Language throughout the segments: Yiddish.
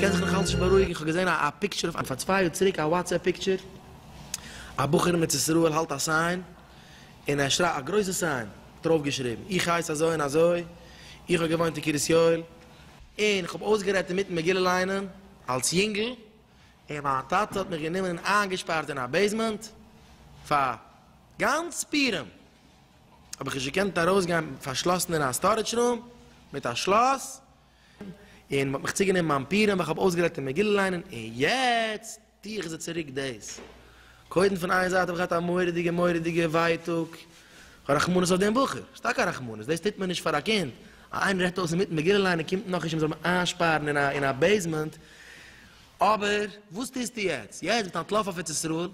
קען זיך נאך אלץ נישט בארואיגן, איך האב געזען א פיקטשער אויף פאר צוויי יאר צוריק, א וואטסעפפ פיקטשער, א בחור אין ארץ ישראל האלט א סיין, און ער שרייט א גרויסע סיין דערויף געשריבן איך הייס אזוי און אזוי, איך האב געוואוינט אין קרית יואל, און איך האב אויסגערעדט אינמיטן מגילה ליינען אלס יונגל, און מיין טאטע האט מיך גענומען און איינגעשפארט אין א בעיסמענט פאר גאנץ פורים, האב איך נישט געקענט ארויסגיין פארשלאסן אין א סטארעדזש רום מיט א שלאס, און מען האט מיך צוגענומען ביים פורים ווייל איך האב אויסגערעדט אין מגילה ליינען, און יעצט. טוה איך זיי צוריק דאס. קודם פון איין זייט האב איך געהאט א מורא'דיגע מורא'דיגע ווייטאג, א רחמנות אויף דעם בחור, ס'איז טאקע א רחמנות, דאס טוט מען נישט פאר א קינד, אז איינער הערט אויס אינמיטן מגילה ליינען קומט נאך נישט אים זאל מען איינשפארן אין א בעיסמענט, אבער וואס טוסטו יעצט? יעצט ביסטו אנטלאפן אויף ארץ ישראל?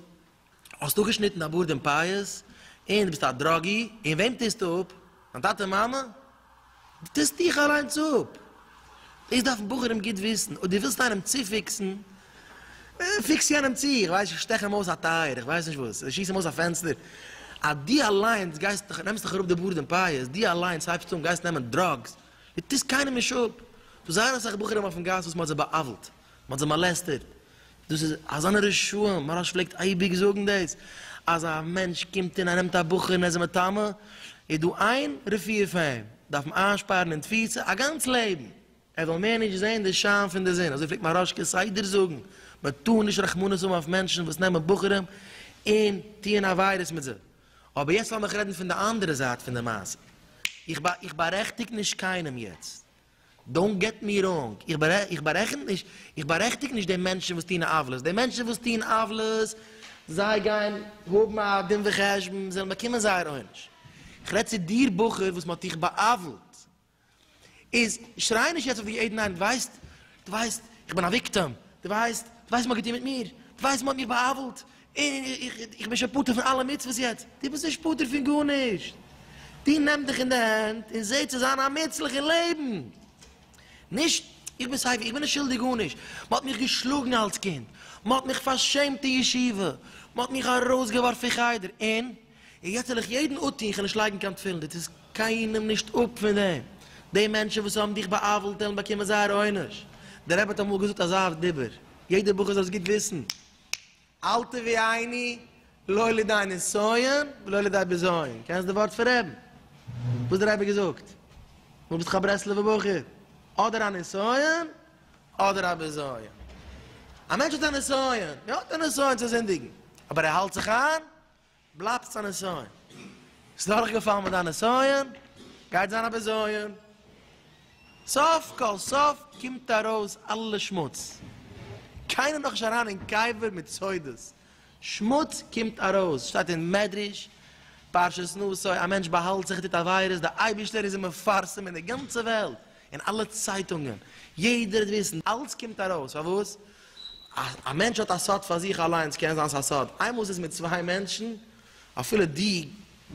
האסט אפגעשניטן א בארד און פאות, און דו ביסט א דראגי, און וועם טוסטו אפ? דיין טאטע און מאמע? דו טוסט דיך אליינס אפ! דאס דארפן בחורים גוט וויסן, אויב דו ווילסט איינעם צופיקסן, פיקס יענעם צו, איך ווייס נישט, שטעך אים אויס א טייער, איך ווייס נישט וואס, שיס אים אויס א פענסטער, אז דו אליינס גייסט דיך, נעמסט דיך אראפ די בארד און פאות, דו אליינס הייבסט אן, גייסט נעמען דראגס, דו טוסט קיינעם נישט אפ! ס'דא זייער אסאך בחורים אויפן גאס וואס מ'האט זיי בא'עוול'ט. מ'האט זיי מאלעסטערט, דאס איז אזאנע רשעים, מוהראש פלעגט אייביג זאגן דאס, אז א מענטש קומט און ער נעמט א בחור און ער איז זיי מטמא, איז דא איין רפואה פאר אים, דארף אים איינשפארן אין תפיסה א גאנץ לעבן, ער זאל מער נישט זען די שיין פון די זון, אזוי פלעגט מוהראש כסדר זאגן, מען טאר נישט רחמנות האבן אויף מענטשן וואס נעמען בחורים און טוען עבירות מיט זיי, אבער יעצט לאמיך רעדן פון די אנדערע זייט פון די מעשה, איך בארעכטיג נישט קיינעם יעצט, דאונט געט מי ראנג, איך בארעכענט נישט, איך בארעכטיג נישט די מענטשן וואס טוהן עוולות, די מענטשן וואס טוהן עוולות, זיי גייען האבן א דין וחשבון, זיי וועלן באקומען זייער עונש. איך רעד צו דיר בחור וואס מען האט דיך בא'עוול'ט, איז שריי נישט יעצט אויף די עדן עין, דו ווייסט, דו ווייסט, איך בין א וויקטעם, דו ווייסט, דו ווייסט וואס מען האט געטוהן מיט מיר, דו ווייסט מען האט מיך בא'עוול'ט, איך בין שוין פטור פון אלע מצוות יעצט, דו ביסט נישט פטור פון גארנישט, דו נעם דיך אין די הענט און זעה צו זיין א מוצלח אין לעבן, נישט איך בין סייווי, איך בין נישט שולדיג גארנישט, מען האט מיך געשלאגן אלס קינד, מען האט מיך פארשעמט אין ישיבה, מען האט מיך ארויסגעווארפן פון חדר, און יעצט זאל איך יעדן אפטון איך וועל נישט לייגן קיין תפילין, דו טוסט קיינעם נישט אפ פון דעם, די מענטשן וואס האבן דיך בא'עוול'ט וועלן באקומען זייער עונש, דער רבי האט אמאל געזאגט אזא דיבור, יעדער בחור זאל עס גוט וויסן. אל תביאיני לא לידי נסיון ולא לידי בזיון, קענסט די ווארט פון רעבן? וואס דער רבי געזאגט? דו ביסט דאך א ברסלב'ע בחור, אדער א נסיון אדער א בזיון. א מענטש האט א נסיון, ער האט א נסיון צו זינדיגן, אבער ער האלט זיך איין, בלייבסט א נסיון. ביסט דורכגעפאלן מיט דיין נסיון, גייט זיין א בזיון. סוף כל סוף קומט ארויס אלע שמוץ. קיינער איז נאכנישט אריין אין קבר מיט סודות. שמוץ קומט ארויס. שטייט אין מדרש, פרשת נשא, א מענטש באהאלט זיך און טוט עבירות, דער אייבערשטער איז אים מפרסם אין די גאנצע וועלט, אין אלע צייטונגען. יעדער וועט וויסן. אלץ קומט ארויס. פארוואס? א מענטש האט א סוד פאר זיך אליין, ס'קען זיין ס'איז א סוד, איינמאל ס'איז מיט צוויי מענטשן, אפילו דו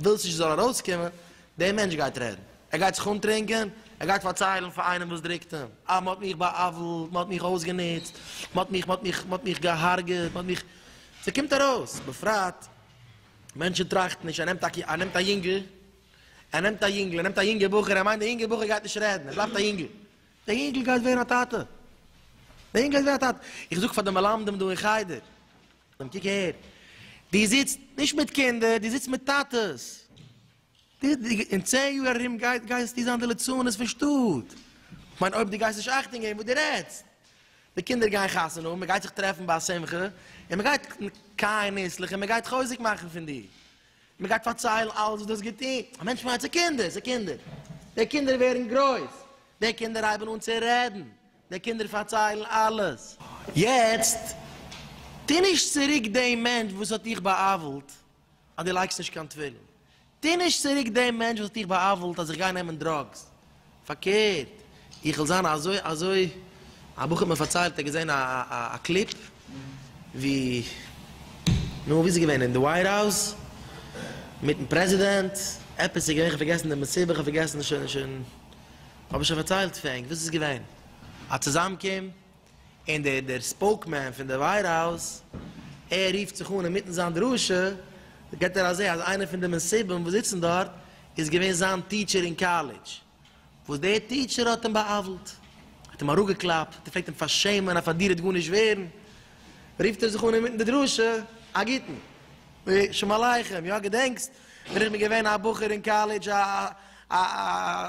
ווילסט נישט ס'זאל ארויסקומען, דער מענטש גייט רעדן, ער גייט זיך אנטרינקען, ער גייט פארציילן פאר איינעם וואס דרוקט אים, אה, מען האט מיך בא'עוול'ט, מען האט מיך אויסגענוצט, מען האט מיך, מען האט מיך, מען האט מיך גע'הרג'עט, מען האט מיך, ס'קומט ארויס, בפרט מענטשן טראכטן נישט, ער נעמט א, ער נעמט א יונגל, ער נעמט א יונגל, ער נעמט א יונגע בחור, ער מיינט דער יונגע בחור גייט נישט רעדן, ער בלייבט א יונגל. דער יונגל גייט ווערן א טאטע! דער יונגל גייט ווערן א טאטע! איך זאג פאר די מלמדים דא אין חדר, דעם קוק אהער, דו זיצט נישט מיט קינדער, דו זיצט מיט טאטעס! דו, דו, אין צען יאר ארום גייט, גייסטו זיין די ליצנות פון שטאט! כ'מיין אויב דו גייסט נישט אכטונג געבן וואס דו רעדסט! די קינדער גייען חתונה האבן, מען גייט זיך טרעפן ביי א שמחה, און מען גייט קיין ניסלעך און מען גייט חוזק מאכן פון דיר! מען גייט פארציילן אלעס וואס דו האסט געטון, א מענטש פארמאגט סעקונדעס, סעקונדעס, די קינדער ווערן גרויס, די קינדער הייבן אן צו רעדן, די קינדער פארציילן אלעס, יעצט טוה נישט צוריק דעם מענטש וואס האט דיך בא'עוול'ט אז דו לייגסט נישט קיין תפילין, טוה נישט צוריק דעם מענטש וואס האט דיך בא'עוול'ט אז איך גיי נעמען דראגס, פארקערט, איך וויל זיין אזוי אזוי. א בחור האט מיר פארציילט ער האט געזען א א קליפ ווי, נו ווי איז עס געווען אין די ווייט האוז מיטן פרעזידענט, עפעס איז געווען כ'האב פארגעסן די מסיבה כ'האב פארגעסן שוין שוין האב איך שוין פארציילט ענק וואס איז געווען, א צוזאמקום. און דער דער ספאוקמען פון די ווייט האוז ער רופט זיך אן אינמיטן זיין דרשה גיבט ער א זעה אז איינער פון די מסובים וואס זיצן דארט איז געווען זיין טיטשער אין קאלעדזש וואס דער טיטשער האט אים בא'עוול'ט האט אים אראפגעקלאפט האט ער פלעגט אים פארשעמען אז פאר דיר וועט גארנישט ווערן רופט ער זיך אן אינמיטן די דרשה א גוטן שלום עליכם יא געדענקסט ווען איך בין געווען א בחור אין קאלעדזש, א א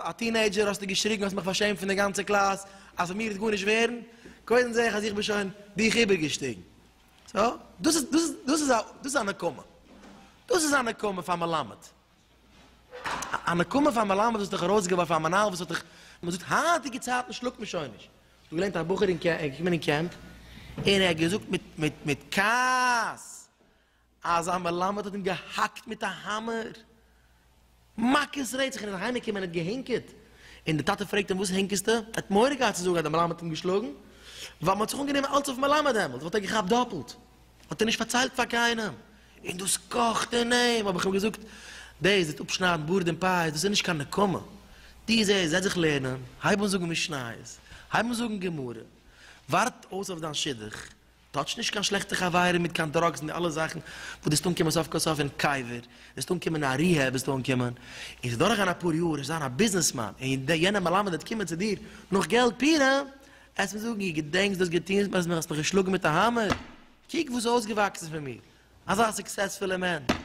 א טינעידזשער, האסטו געשריגן, האסט מיך פארשעמט פון די גאנצע קלאס, אז פון מיר וועט גארנישט ווערן, קודם זעה איך אז איך בין שוין דיך איבערגעשטיגן. סאו, דאס איז, דאס איז, דאס איז א, דאס איז א נקמה. דאס איז א נקמה פאר מלמד. א נקמה פאר מלמד וואס האט דיך ארויסגעווארפן, א מנהל וואס האט דיך, וואס זאגט, היינטיגע צייטן שלאגט מען שוין נישט. איך האב געליינט א בחור אין קעמפ, ער איז געקומען אין קעמפ, און ער האט געזאגט מיט, מיט, מיט כעס, אז א מלמד האט אים געהאקט מיט א האמער מכות רצח און איז אהיים געקומען און האט געהינקעט, און די טאטע פרעגט אים וואס הינקעסטו? ער האט מורא געהאט צו זאגן אז די מלמד האט אים געשלאגן, ווייל מען האט זיך אנגענומען אלץ אויף מלמד דעמאלט וואלט ער געכאפט דאפלט, האט ער נישט פארציילט פאר קיינעם, און דאס קאכט אין אים, האב איך אים געזאגט, דאס וועט אפשניידן בארד און פאות, דאס איז נישט קיין נקמה, דו זעסט, זעץ זיך לערנען, הייב אן זאגן משניות, הייב אן זאגן גמרא, ווארט אויס אויף דיין שידוך, טאטש נישט קיין שלעכטע חברים מיט קיין דראגס און די אלע זאכן וואס דו וועסט אנקומען סוף כל סוף אין קבר, וועסט אנקומען אין א ריהעב וועסטו אנקומען, און ס'וועט דורכגיין אפאר יאר, וועסט זיין א ביזנעס מאן, און די יענע מלמד וועט קומען צו דיר נאך געלט פורים, עסט מיר זאגן איר געדענקסט דאס געטוהנס מיר אז מען האסט מיך געשלאגן מיט א האמער, קוק וואס איז אויסגעוואקסן פון מיר, אזא סוקסעספולע מענטש,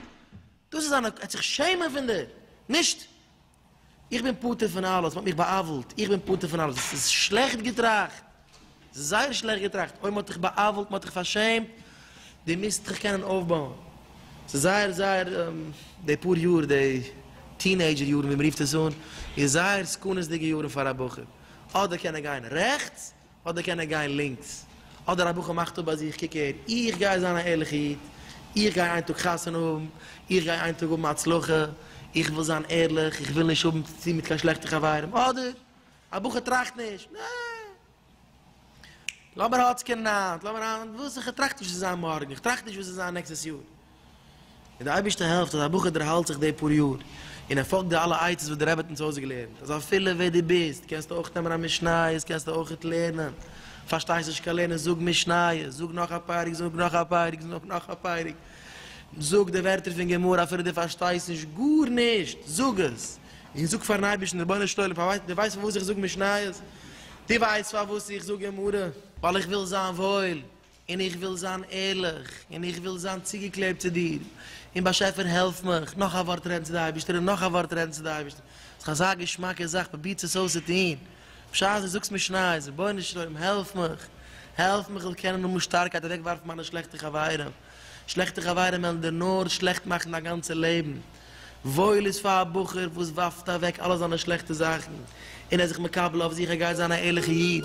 דאס איז זיין, ער וועט זיך שעמען פון דיר, נישט. איך בין פטור פון אלעס, מען האט מיך בא'עוול'ט, איך בין פטור פון אלעס, עס איז שלעכט געטראכט, עס איז זייער שלעכט געטראכט, אוי מען האט דיך בא'עוול'ט, מען האט דיך פארשעמט, דו מוזט דיך קענען אויפבויען, עס איז זייער זייער, די פאר יאר, די טינעידזשער יארן ווי מען רופט עס אן, איז זייער סכנות'דיגע יארן פאר א בחור, אדער קען ער גיין רעכטס, אדער קען ער גיין לינקס, אדער א בחור מאכט אפ ביי זיך, קוק הער, איך גיי זיין א ערליכע איד, איך גיי איין טאג חתונה האבן, איך גיי איין טאג האבן הצלחה, איך וויל זיין ערליך, איך וויל נישט האבן צוטון מיט קיין שלעכטע חברים, אדער א בחור טראכט נישט, נע! לאמיר האצקענען היינט, לאמיר היינט, וואס? איך טראכט נישט וואס עס וועט זיין מארגן, איך טראכט נישט וואס עס וועט זיין נעקסטעס יאר, און די אייבערשטע העלפט אז א בחור דערהאלט זיך די פאר יאר און ער פאלגט די אלע עצות וואס די רבי האט אונז אויסגעלערנט אז אפילו ווער דו ביסט קענסטו אויך נעמען א משניות קענסטו אויכעט לערנען, פארשטייסט נישט קיין לערנען זאג משניות, זאג נאך א פרק, זאג נאך א פרק, זאג נאך א פרק, זאג די ווערטער פון גמרא אפילו דו פארשטייסט נישט גארנישט, זאג עס, און זאג פארן אייבערשטן רבונו של עולם פארוואס, דו ווייסט פארוואס איך זאג משניות? דו ווייסט פארוואס איך זאג גמרא? ווייל איך וויל זיין וואויל, און איך וויל זיין ערליך, און איך וויל זיין צוגעקלעבט צו דיר, און באשעפער העלף מיך נאך א ווארט רעדן צו די אייבערשטער און נאך א ווארט רעדן צו די אייבערשטער, איז דאך אזא געשמאקע זאך, פרובירטס עס אויס צו טון, בשעת דו זאגסט משניות, רבונו של עולם העלף מיך, העלף מיך איך זאל קענען האבן שטארקייט אוועק ווארפן מיינע שלעכטע חברים, שלעכטע חברים וועלן דיר נאר שלעכט מאכן דיין גאנצע לעבן. וואויל איז פאר א בחור וואס ווארפט אוועק אלע זיינע שלעכטע זאכן און ער איז זיך מקבל אויף זיך ער גייט זיין א ערליכע איד.